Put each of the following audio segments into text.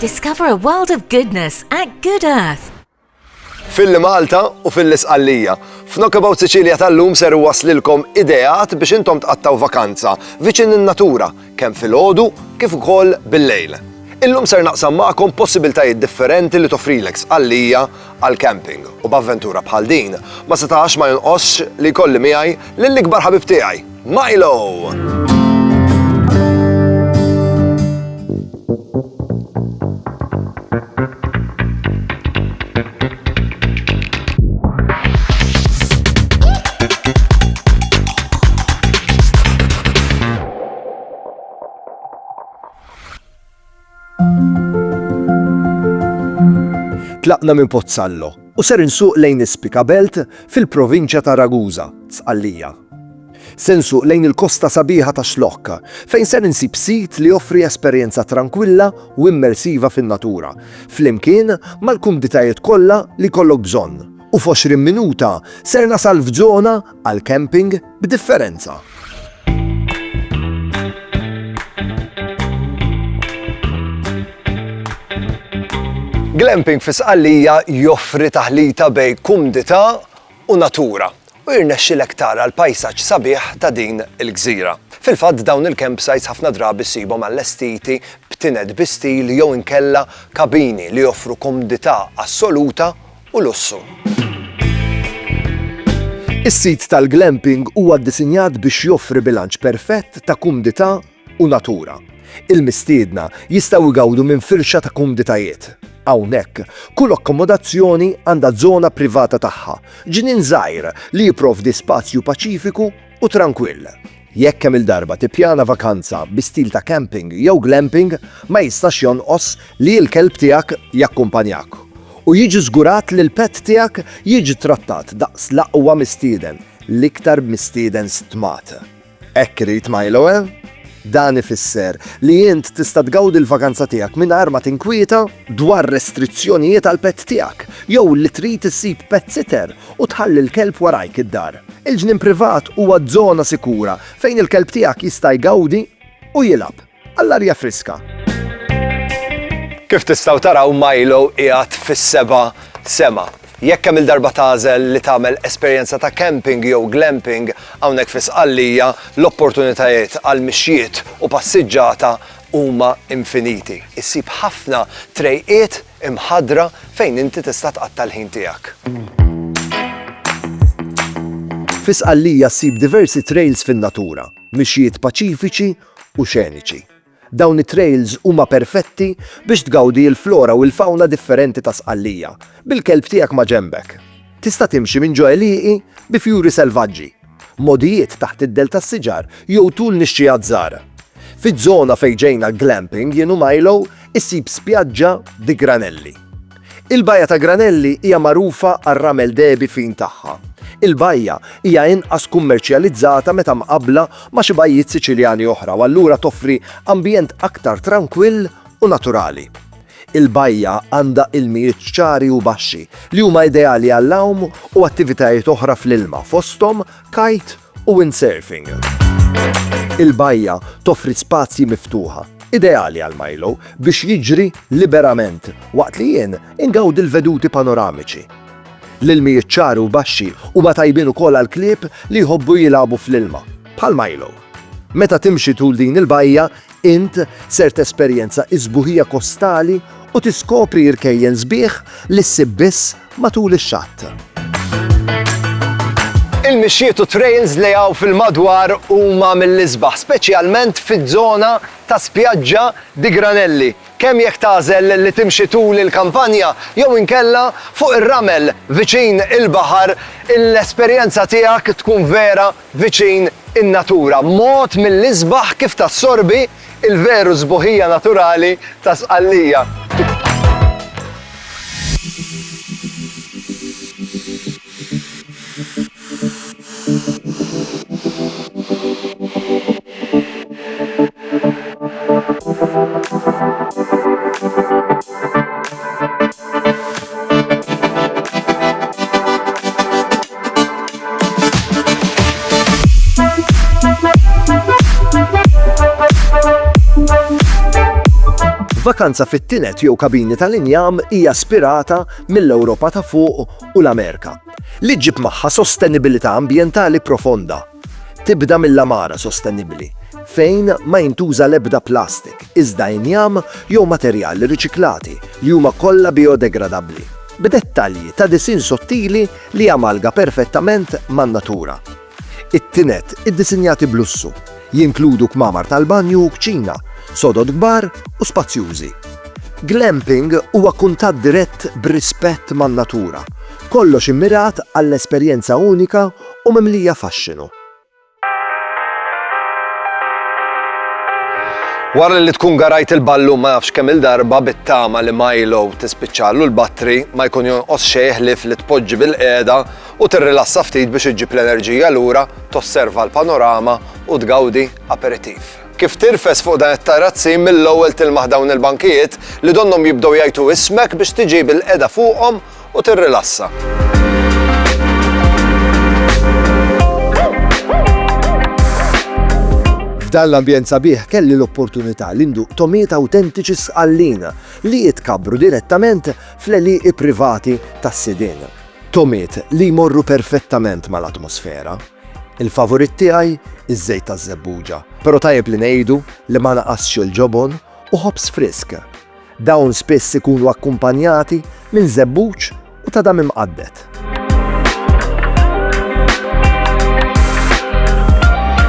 Discover a world of goodness at Good Earth. Filli Malta u filli Sqallija. F'Knockabout Sicilia tal-lum ser iwasslilkom ideat biex intom tqattgħu vakanza viċin in-natura kemm filgħodu kif ukoll bil-lejl. Illum ser naqsam magħkom possibiltajiet differenti li toffrilek Sqallija għall-camping u b'avventura bħal din ma setax ma jonqosx li jkolli miegħi lill-ikbar ħabib tiegħi, Milo! Tlaqna minn Pozzallo u ser insuq lejn Ispika Belt fil-provinċja ta' Ragusa, Sqallija. Se nsuq lejn il-kosta sabiħa ta' Xlokk, fejn ser insib sit li joffri esperjenza trankwilla u immersiva fin-natura, flimkien mal-kumditajiet kollha li jkollok bżonn, U f'għoxrin minuta ser nasal f'żona għall-camping b'differenza. Glamping fi Sqallija joffri taħlita bejn kumdità u natura. u jirnexxilek tara l-pajsaġġ sabiħ ta' din il-gżira. Fil-fatt dawn il-campsites ħafna drabi ssibhom allestiti b'tined bi stil jew inkella kabini li joffru komdità assoluta u lussu. Is-sit tal-glamping huwa ddisinjat biex joffri bilanċ perfett ta' kumdità u natura. Il-mistiedna jistgħu jgawdu minn firxa ta' kumditajiet. Hawnhekk, kull akkomodazzjoni għandha żona privata tagħha, ġnien żgħir li jipprovdi spazju paċifiku u trankwill. Jekk kemm-il darba tippjana vakanza bi stil ta' camping jew glamping, ma jistax jonqos li l-kelb tiegħek jakkumpanjak u jiġi żgurat li l-pet tiegħek jiġi ttrattat daqs l-aqwa mistieden, l-iktar mistieden stmat. Hekk irid Milo, eh? Dan ifisser li int tista' tgawdi l-vakanza tiegħek mingħajr ma tinkwieta dwar restrizzjonijiet għall-pett tiegħek jew li trid issib pet sitter u tħalli l-kelb warajk id-dar. Il-ġnien privat huwa żona sikura fejn il-kelb tiegħek jista' jgawdi u jilgħab. Għall-arja friska. Kif tistgħu taraw Milo qiegħed fis-seba' sema. Jekk kemm-il darba tagħżel li tagħmel esperjenza ta' camping jew glamping hawnhekk fi Sqallija, l-opportunitajiet għal mixjiet u passiġġata huma infiniti. Issib ħafna trejqiet imħaddra fejn inti tista' tqatta' l-ħin tiegħek. Fi Sqallija ssib diversi trails fin-natura, mixjiet paċifiċi u xeniċi. Dawn it-trails huma perfetti biex tgawdi l-flora u l-fawna differenti ta' Sqallija, bil-kelb tiegħek ma' ġenbek. Tista' timxi minn ġo għelieqi bi fjuri selvaġġi, mogħdijiet taħt id-dell tas-siġar jew tul nixxiegħat żgħar. Fiż-żona fejn ġejna glamping jien u Milo, issib spjaġġa bi granelli. Il-Bajja ta' Granelli hija magħrufa għar-ramel dehbi fin tagħha. Il-bajja hija inqas kummerċjalizzata meta mqabbla ma' xi bajjiet Siċiljani oħra u allura toffri ambjent aktar trankwill u naturali. Il-bajja għandha ilmijiet ċari u baxxi li huma ideali għall-għawm u attivitajiet oħra fl-ilma, fosthom kite u windsurfing. Il-bajja toffri spazji miftuħa, ideali għal Milo biex jiġri liberament waqt li jien ingawdi l-veduti panoramiċi. L-ilmijiet ċari u baxxi huma tajbin ukoll għall-klieb li jħobbu jilagħbu fl-ilma, bħal Milo. Meta timxi tul din il-bajja, Int ser tesperjenza s-sbuħija kostali u tiskopri rkejjen sbieħ li ssib biss matul ix-xatt. Il-mixjiet u t-trails li hawn fil-madwar huma mill-isbaħ, speċjalment fiż-żona ta' Spjaġġa di Granelli, kemm jekk tagħżel li timxi tul il-kampanja jew inkella fuq ir-ramel viċin il-baħar, l-esperjenza tiegħek tkun vera viċin in-natura, mod mill-isbaħ kif tassorbi l-veru sbuħija naturali ta' Sqallija. Vakanza fit-tinet jew kabini tal-injam hija spirata mill-Ewropa ta' fuq u l-Amerika, li ġib magħha sostenibilità ambjentali profonda. Tibda mill-għamara sostenibbli, fejn ma jintuża l-ebda plastik, iżda injam jew materjali riċiklati li huma kollha bijodegradabbli, b'dettalji ta' disinn sottili li jamalga perfettament man-natura. It-tined iddisinjati b'lussu, jinkludu kmamar tal-banju u kċina, sodod kbar u spazjużi. Glamping huwa kuntatt dirett b'rispett man-natura, kollox immirat għall-esperjenza unika u mimlija faxxinu. Wara li tkun garajt il-ballu ma nafx kemm-il darba bit-tama li Milo tispiċċallu l-battri, ma jkun jonqos xejn ħlief li tpoġġi bilqiegħda u tirrilassa ftit biex iġġib l-enerġija lura, tosserva l-panorama u tgawdi aperitif. Kif tirfes fuq dan it-tarazzin mill-ewwel tilmaħ dawn il-bankijiet li donnhom jibdew jgħajtu ismek biex tiġi bilqiegħda fuqhom u tirrilassa. F'dan l-ambjent sabiħ kelli l-opportunità li nduq tomiet awtentiċi sqallin li jitkabbru direttament fl-eliqi privati tas-sidien. Tomiet li jmorru perfettament mal-atmosfera. Il-favorit tiegħi iż-żejt taż-żebbuġa, però tajjeb li ngħidu li ma naqasx il-ġobon u ħobż frisk. Dawn spiss ikunu akkumpanjati minn żebbuġ u ta' dam imqadded.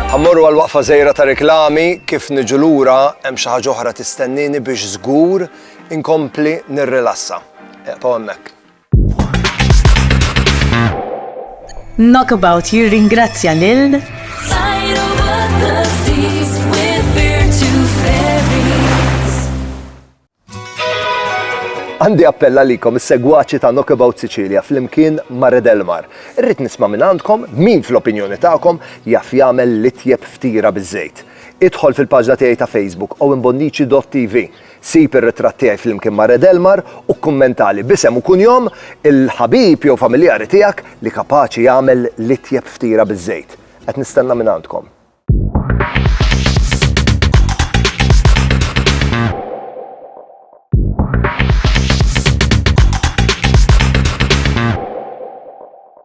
Ħa mmorru għal waqfa żgħira ta' reklami, kif niġu lura hemm xi ħaġa oħra tistennieni biex żgur inkompli nirrilassa. Eqgħu hemmhekk. Knockabout jirringrazzja lil Għandi appella likom is-segwaċi ta' Knockabout Sicilia fl-imkien Mare del Mar. Irrid nisma' minn għandkom min fl-opinjoni tagħkom jaf jagħmel l-itjeb ftira biż-żejt. Idħol fil-paġna tiegħi ta' Facebook u imbonniċi.tv Sib ir-ritratt tiegħi flimkien ma' Red Elmar u kkummentali b'isem u kunjom il-ħabib jew familjari tiegħek li kapaċi jagħmel l-itjeb ftiera biż-żejt. Qed nistenna mingħandkom.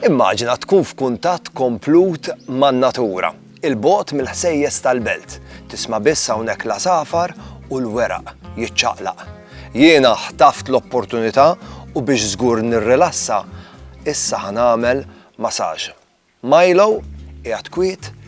Immaġina tkun f'kuntatt komplut man-natura, 'il bogħod mill-ħsejjes tal-belt, tisma' biss hawnhekk l-għasafar u l-weraq jiċċaqlaq. Jiena ħtaft l-opportunità u biex żgur nirrilassa, issa ħa nagħmel massage. Milo qiegħed kwiet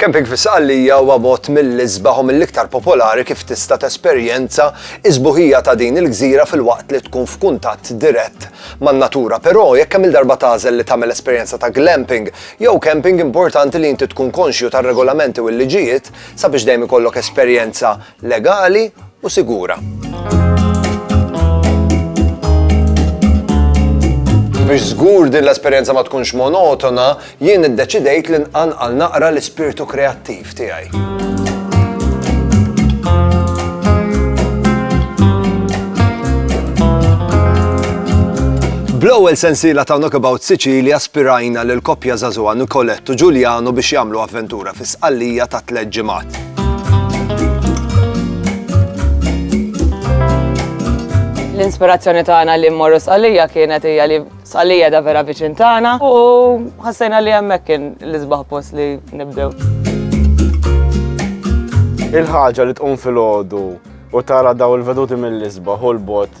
Camping fis-Saqallija huwa mod mill-isbaħ u mill-iktar popolari kif tista' tesperjenza iżbuħija ta' din il-gżira fil-waqt li tkun f'kuntatt dirett man-natura. Però jekk kemm il-darba tażel li tagħmel esperjenza ta' glamping jew camping importanti li inti tkun konxju tar-regolamenti u l-liġijiet sabiex dejjem ikollok esperjenza legali u sigura. Biex żgur din l-esperjenza ma tkunx monotona, jien iddeċidejt li nqanqal naqra l-ispirtu kreattiv tiegħi. Bl-ewwel sensiela ta' Knockabout Sicilia aspirajna lil koppja żagħżugħa Nicolette u Giuliano biex jagħmlu avventura fi sqallija ta' tliet ġimgħat. L-inspirazzjoni tagħna li mmorru Sqalija kienet hija li Sqalija da vera viċin tagħna u ħassejna li hemmhekk kien l-isbaħ post li nibdew. Il-ħaġa li tqum fil-ħodu u tara daw il-veduti mill-isbaħ u l-bot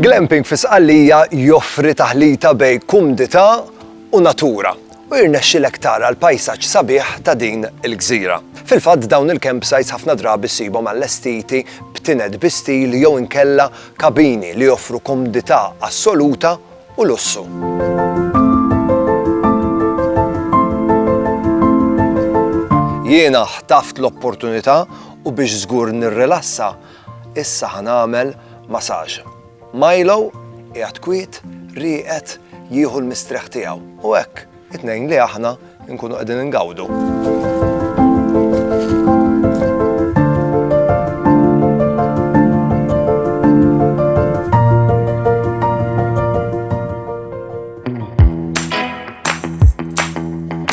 Glamping fi Sqallija joffri taħlita bejn kumdità u natura u jirnexxilek tara l-pajsaġġ sabiħ ta' din il-gżira. Fil-fatt dawn il-campsites ħafna drabi ssibhom allestiti b'tined bi stil jew inkella kabini li joffru komdità assoluta u lussu. Jiena ħtaft l-opportunità u biex żgur nirrilassa, issa ħa nagħmel masaġ. Milo qiegħed kwiet, rieqed, jieħu l-mistrieħ tiegħu u hekk It-tnejn li aħna nkunu qegħdin ingawdu.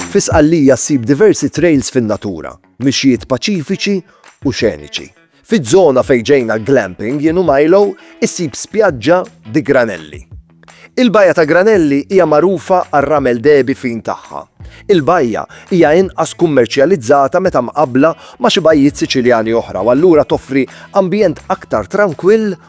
Fi Sqallija ssib diversi trails fin-natura, mixjiet paċifiċi u xeniċi. Fiż-żona fejn ġejna glamping jien u Milo issib spjaġġa bi granelli. Il-bajja ta' granelli hija magħrufa għar-ramel dehbi fin tagħha. Il-bajja hija inqas kummerċjalizzata meta mqabbla ma' xi bajjiet Siċiljani oħra u allura toffri ambjent aktar trankwill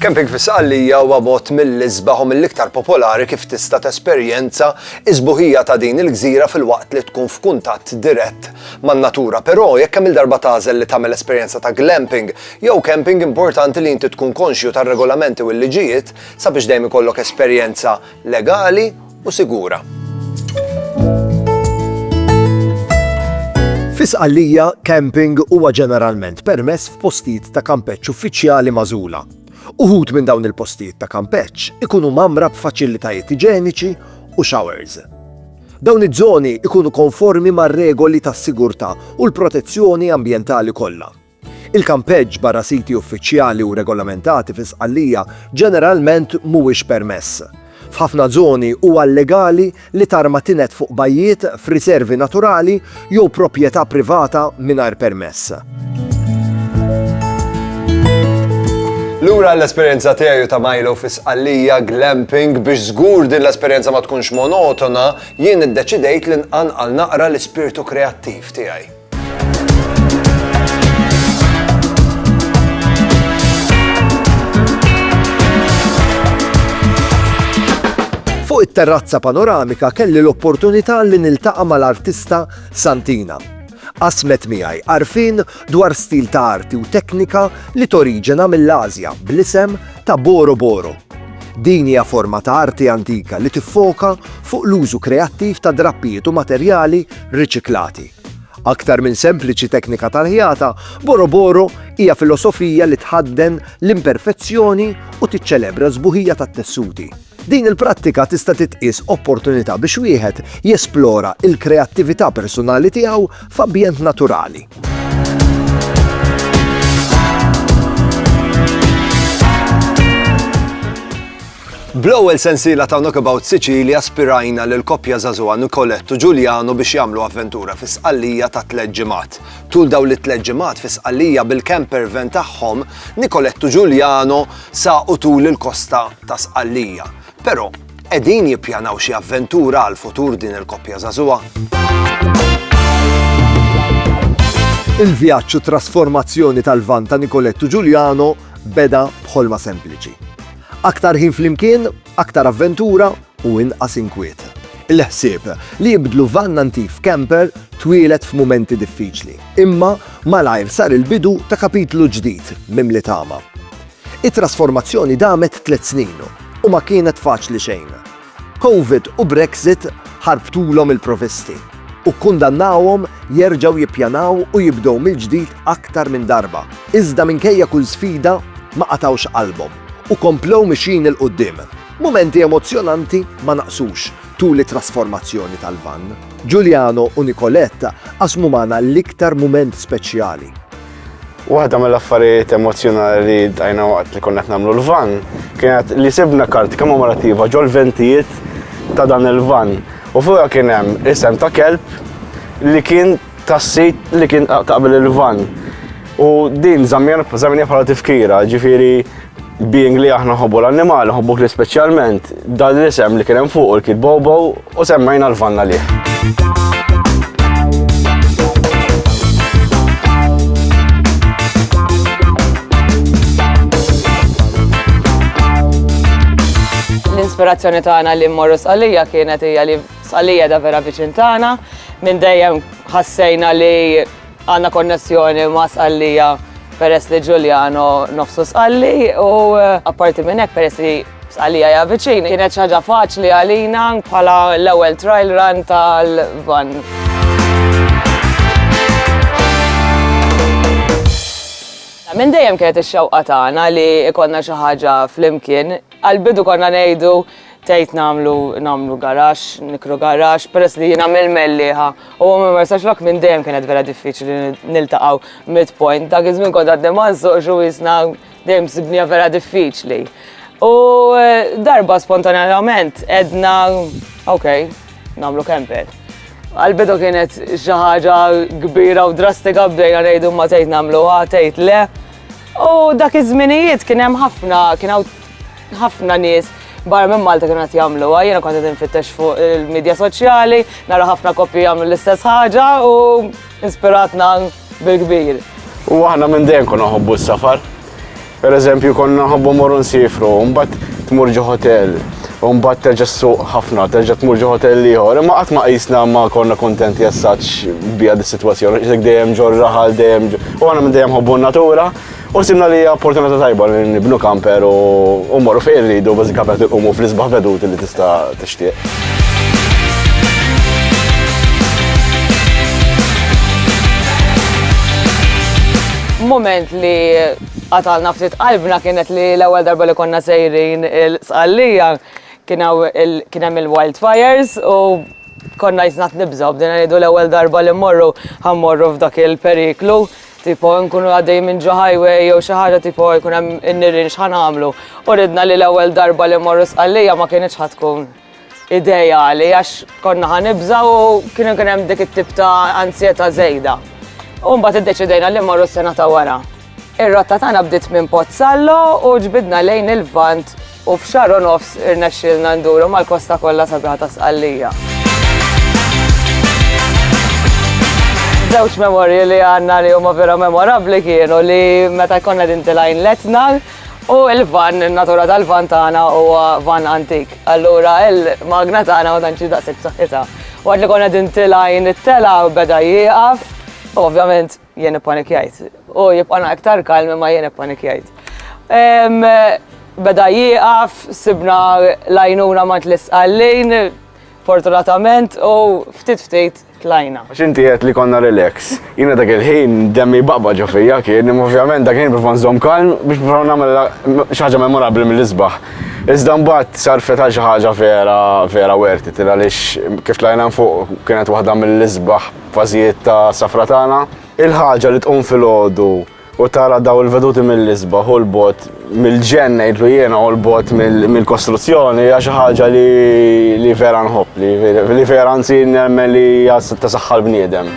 Camping fis-Sqallija huwa mod mill-isbaħ u mill-iktar popolari kif tista' tesperjenza s-sbuħija ta' din il-gżira filwaqt li tkun f'kuntatt dirett man-natura. Però, jekk kemm-il darba tagħżel li tagħmel esperjenza ta' glamping jew camping importanti li inti tkun konxju tar-regolamenti u l-liġijiet sabiex dejjem ikollok esperjenza legali u sigura. Fi Sqallija, camping huwa ġeneralment permess f'postijiet ta' kampeġġ uffiċjali magħżula. Uħud minn dawn il-postijiet ta' kampeġġ ikunu mamra b'faċilitajiet iġeniċi u showers. Dawn iż-żoni ikunu konformi mar-regoli tas-sigurtà u l-protezzjoni ambjentali kollha. Il-kampeġġ barra siti uffiċjali u regolamentati fi Sqallija ġeneralment mhuwiex permess. F'ħafna żoni huwa llegali li tarma tined fuq bajjiet, f'riservi naturali jew proprjetà privata mingħajr permess. Lura l-esperjenza tiegħi u ta' Milo fi Sqallija glamping biex żgur din l-esperjenza ma tkunx monotona, jien iddeċidejt li nqanqal naqra l-ispirtu kreattiv tiegħi. Fuq it-terrazza panoramika kelli l-opportunità li niltaqa' mal-artista Santina. Qasmet miegħi għarfien dwar stil ta' arti u teknika li toriġena mill-Ażja bl-isem ta' Boro Boro. Din hija forma ta' arti antika li tiffoka fuq l-użu kreattiv ta' drappijiet u materjali riċiklati. Aktar minn sempliċi teknika tal-ħjata, Boroboro hija filosofija li tħadden l-imperfezzjoni u tiċċelebra s-sbuħija tat-tessuti. Din il-prattika tista' titqies opportunità biex wieħed jesplora l-kreattività persunali tiegħu f'ambjent naturali. Bl-ewwel sensiela ta' Knockabout Sicilia aspirajna lil koppja żagħżugħa Nicolettu Ġuljano biex jagħmlu avventura fi sqallija ta' tliet ġimgħat. Tul dawn it-tliet ġimgħat fi sqallija bil-camper van tagħhom, Nicolettu Ġuljano saqu tul il-kosta ta' Sqallija. Però Qegħdin jippjanaw xi avventura għall-futur din il-koppja żagħżugħa? Il-vjaġġ u trasformazzjoni tal-van ta' Nicolettu Giuliano beda b'ħolma sempliċi. Aktar ħin flimkien, aktar avventura u inqas inkwiet. Il-ħsieb li jibdlu van antik f'camper twilet f'mumenti diffiċli, imma malajr sar il-bidu ta' kapitlu ġdid mimli tama. It-trasformazzjoni damet tliet snin u ma kienet faċli xejn. Covid u Brexit ħarbtulhom il-provvisti u kkundannawhom jerġgħu jippjanaw u jibdew mill-ġdid aktar minn darba. Iżda minkejja kull sfida, ma qatgħux qalbhom u komplew mixjin 'il quddiem. Mumenti emozzjonanti ma naqsux tul it-trasformazzjoni tal-vann. Giuliano u Nicolette qasmu magħna l-iktar mument speċjali. Waħda mill-affarijiet emozjonali li dajna waqt li konna nagħmlu l-van kienet li sibna kart kommemorativa ġol ventijiet ta' dan il-van. U fuqha kien hemm isem ta' kelb li kien tas-sit li kien taqbel il-van. U din żammjena bħala tifkira, ġifieri Being li aħna nħobbu l-annimali, nħobbu kli speċjalment, dan l-isem li kien hemm fuq il-kid Bobo u semmejna l-vanna lih. L-ispirazzjoni tagħna li mmorru sqalija kienet hija li sqalija da vera viċin tagħna, minn dejjem ħassejna li Għandna konnessjoni ma' Sqallija peress li Ġuljano nofsu Sqalli u apparti minn hekk peress li Sqallija hija viċin kienet xi ħaġa faċli għalina bħala l-ewwel trial run tal-vann. Minn dejjem kienet ix-xewqa tagħna li jkollna xi ħaġa flimkien. Għall-bidu konna ngħidu Tgħid nagħmlu nagħmlu garaxx, nikru garaxx, peress li jiena mill-Mellieħa u huwa minn Marsaxlokk minn dejjem kienet vera diffiċli niltaqgħu midpoint. Dak iż-żmien kont għadni ma nsuqx u isna dejjem sibniha vera diffiċli. U darba spontanjament għedna ok, nagħmlu camper. Għal-bidu kienet xi ħaġa kbira u drastika bdejna ngħidu ma tgħid nagħmluha, tgħid le. U dak iż-żminijiet kien hemm ħafna kien ħafna nies barra minn Malta kienu qed jagħmluha, jiena kont qed infittex fuq il-medja soċjali, nara ħafna koppji jagħmlu l-istess ħaġa u inspiratna bil-kbir. U aħna minn dejjem konna nħobbu s-safar. Per eżempju, konna nħobbu morru nsifru, mbagħad tmur ġo hotel, u mbagħad terġa' suq ħafna, terġa' tmur ġo hotel ieħor, imma qatt ma qisna ma konna kontenti assaġġ bija dis-sitwazzjoni, dejjem ġor raħal, dejjem u aħna minn dejjem ħobbu n-natura. U ħsibna li hija opportunità tajba li nibnu kamper u mmorru fejn irridu bażi kamper tilqumu fl-isbaħ veduti li tista' tixtieq. Moment li qatalna ftit qalbna kienet li l-ewwel darba li konna sejrin il-Sqallija kien hemm il-wildfires u konna jisna qed nibżgħu bdejna ngħidu l-ewwel darba li mmorru ħammorru f'dak il-periklu. Tipo nkunu għaddejjin minn ġo highway jew xi ħaġa tipo jkun hemm in-nirien x'ħa nagħmlu. U ridna li l-ewwel darba li mmorru Sqallija ma kinitx ħa tkun ideali għax konna ħa nibża' u kien ikun hemm dik it-tip ta' anzjetà żejda. U mbagħad iddeċidejna li mmorru s-sena ta' wara. Ir-rotta tagħna bdiet minn Pozzallo u ġbidna lejn il-Lvant U f'xahar u nofs irnexxielna nduru mal-kosta kollha sabiħa ta' Sqallija. Żewġ memorji li għandna li huma vera memorabbli kienu li meta jkollna din tilgħin letna u l-van, in-natura tal-van tagħna huwa van antik. Allura il-magna tagħna ma tantx daqshekk b'saħħitha. Waqt li konna din tilgħin it-telgħa beda jieqaf, ovvjament Jien ippanikjajt. U jibqa' na iktar kalm imma jien ippanikjajt. Beda jieqaf, sibna l-għajnuna mant l-isqallin, fortunatament, u ftit ftit tlajna. Għax inti għedt li konna relax. Jiena dak il-ħin demmi jbaqba' ġo fija kien, imma ovvjament dak il-ħin nipprova nżomm kalm biex nipprova nagħmel xi ħaġa memorabbli mill-isbaħ. Iżda mbagħad sarfet għal xi ħaġa vera vera worth it għaliex kif tlajna 'l fuq kienet waħda mill-isbaħ Fażijiet ta' safra tagħna. Il-ħaġa li tqum filgħodu u tara dawn il-veduti mill-isbaħ u 'l bogħod mill-ġenn ngħidlu jiena u 'l bogħod mill-kostruzzjoni hija xi ħaġa li vera nħobb, li vera anzi nemmen li hija ta' saħħa l-bniedem.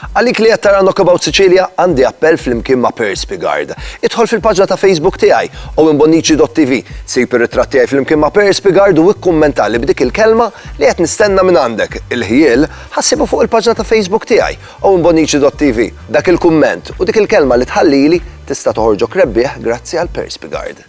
Għalik li qed tara Knockabout Sicilia, għandi appell flimkien ma' Pearse Piegard. Idħol fil-paġna ta' Facebook tiegħi, owenbonnici.tv, sib ir-ritratt tiegħi flimkien ma' Pearse Piegard u ikkummentali b'dik il-kelma li qed nistenna minn għandek, il-ħjiel, ħa ssibha fuq il-paġna ta' Facebook tiegħi, owenbonnici.tv. Dak il-kumment u dik il-kelma li tħallili tista' toħorġok rebbieħ grazzi għal Pearse Piegard.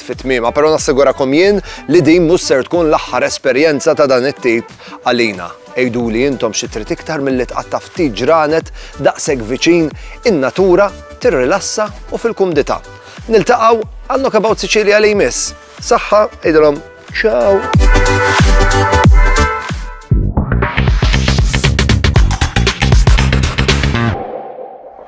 fi tmiemha, però nassigurakom jien li din mhux ser tkun l-aħħar esperjenza ta' dan it-tip għalina. Għiduli intom xi trid iktar milli tqatta' ftit ġranet daqshekk viċin in-natura, tirrilassa u fil-kumdità. Niltaqgħu għal Knockabout Sicilia li jmiss. Saħħa, għidilhom ciao!